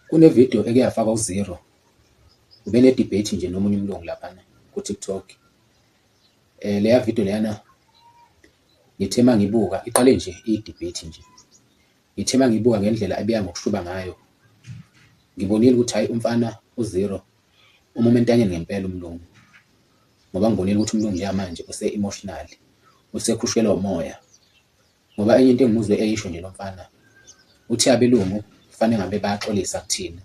Kune video eke yafakwa u Zero ubene debate nje nomunye umlungu laphana ku TikTok. Eh leya video leyana ngithe mangibuka iqale nje i debate nje. Ngithe mangibuka ngendlela ebiya ngokushuba ngayo. Ngibonile ukuthi hayi umfana u Zero umuma entanyeni ngempela umlungu. Ngoba ngibonile ukuthi umlungu njengamanje use emotional usekhushelwa umoya. Ngoba enye into engimuzwe eyisho nje lomfana uthi abelungu kufanele ngabe bayaxolisa kuthina.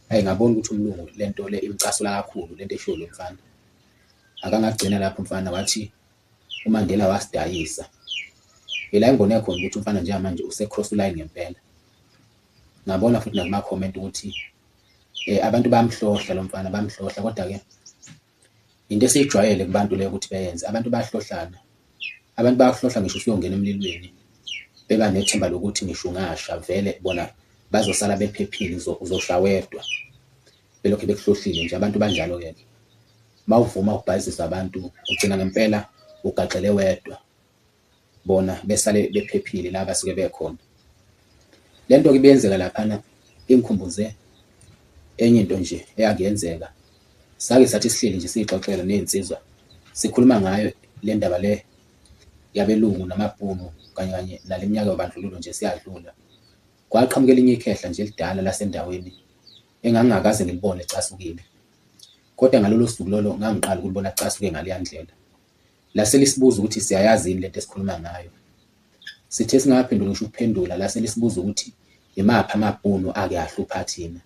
Ayi ngabona ukuthi umlungu lento le imcasula kakhulu lento eshiwo lo mfana. Akangagcina lapho mfana wathi uMandela wasidayisa. Ila ingone khona ukuthi umfana njengamanje use cross line ngempela. Ngabona futhi nakuma comment ukuthi eh abantu bayamhlohla lo mfana bamhlohla kodwa ke Into esiyijwayele kubantu leyo ukuthi beyenze, abantu bayahlohlana. Abantu bayakuhlohla ngisho usuyongena emlilweni, beba nethemba lokuthi ngisho ungasha vele bona bazosala bephephile, uzosha wedwa. Belokhu bekuhlohlile nje, abantu banjalo-ke ke. Uma uvuma ukubhayizisa abantu, ugcina ngempela ugaxele wedwa. bona besale bephephile la basuke bekhona. Le nto-ke ibiyenzeka laphana ingikhumbuze enye into nje eyake yenzeka. Sake sathi sihleli nje siyixoxela ney'nsizwa, sikhuluma ngayo le ndaba le yabelungu namabhunu kanye kanye nale minyaka yobandlululo nje siyadlula. Kwaqhamuka elinye ikhehla nje elidala lasendaweni engangingakaze ngilibone licasukile. Kodwa ngalolo suku lolo ngangiqala ukulibona licasuke ngaleya ndlela. Lase lisibuza ukuthi siyayazi yini lento esikhuluma ngayo. Sithe singakaphenduli ngisho ukuphendula, lase lisibuza ukuthi imaphi amaBhunu ake ahlupha thina.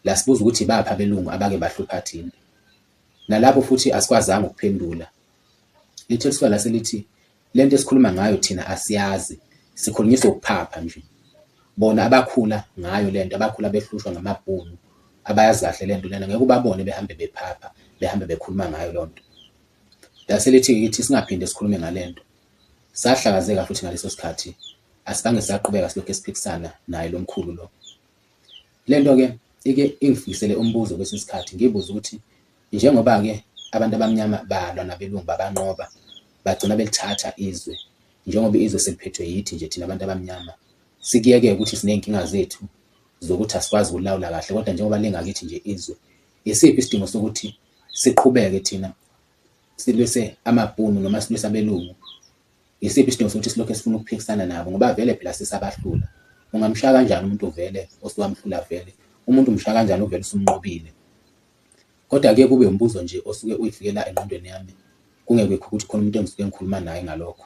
Lasibuza ukuthi ibaphi abelungu abake bahlupha thina. Nalapho futhi asikwazanga ukuphendula. Lithe lisuka lase lithi lento esikhuluma ngayo thina asiyazi, sikhulunyiswa ukuphapha nje. Bona abakhula ngayo lento, abakhula behlushwa ngamaBhunu, abayazi kahle lento lena, ngeke ubabone behambe bephapha, behambe bekhuluma ngayo lonto. Lase lithi kithi singaphinde sikhulume ngale nto. Sahlakazeka futhi ngaleso sikhathi asibange saqhubeka silokhu siphikisana naye lo mkhulu lo. Le nto-ke ike ingifikisele umbuzo kwesinye isikhathi ngibuze ukuthi njengoba-ke abantu abamnyama balwa nabelungu babanqoba bagcina belithatha izwe njengoba izwe seliphethwe yithi nje thina abantu abamnyama sikuyeke ukuthi siney'nkinga zethu zokuthi asikwazi ukulawula kahle kodwa njengoba lingakithi nje izwe isiphi isidingo sokuthi siqhubeke thina silwise amabhunu noma silwise abelungu yisiphi isidingo sokuthi silokhu sifuna ukuphikisana nabo ngoba vele phela sisabahlula ungamshaya kanjani umuntu uvele osuwamhlula vele umuntu umshaya kanjani uvele usumnqobile kodwa ke kube umbuzo nje osuke uyifikela engqondweni yami kungekho ukuthi khona umuntu engisuke ngikhuluma naye ngalokho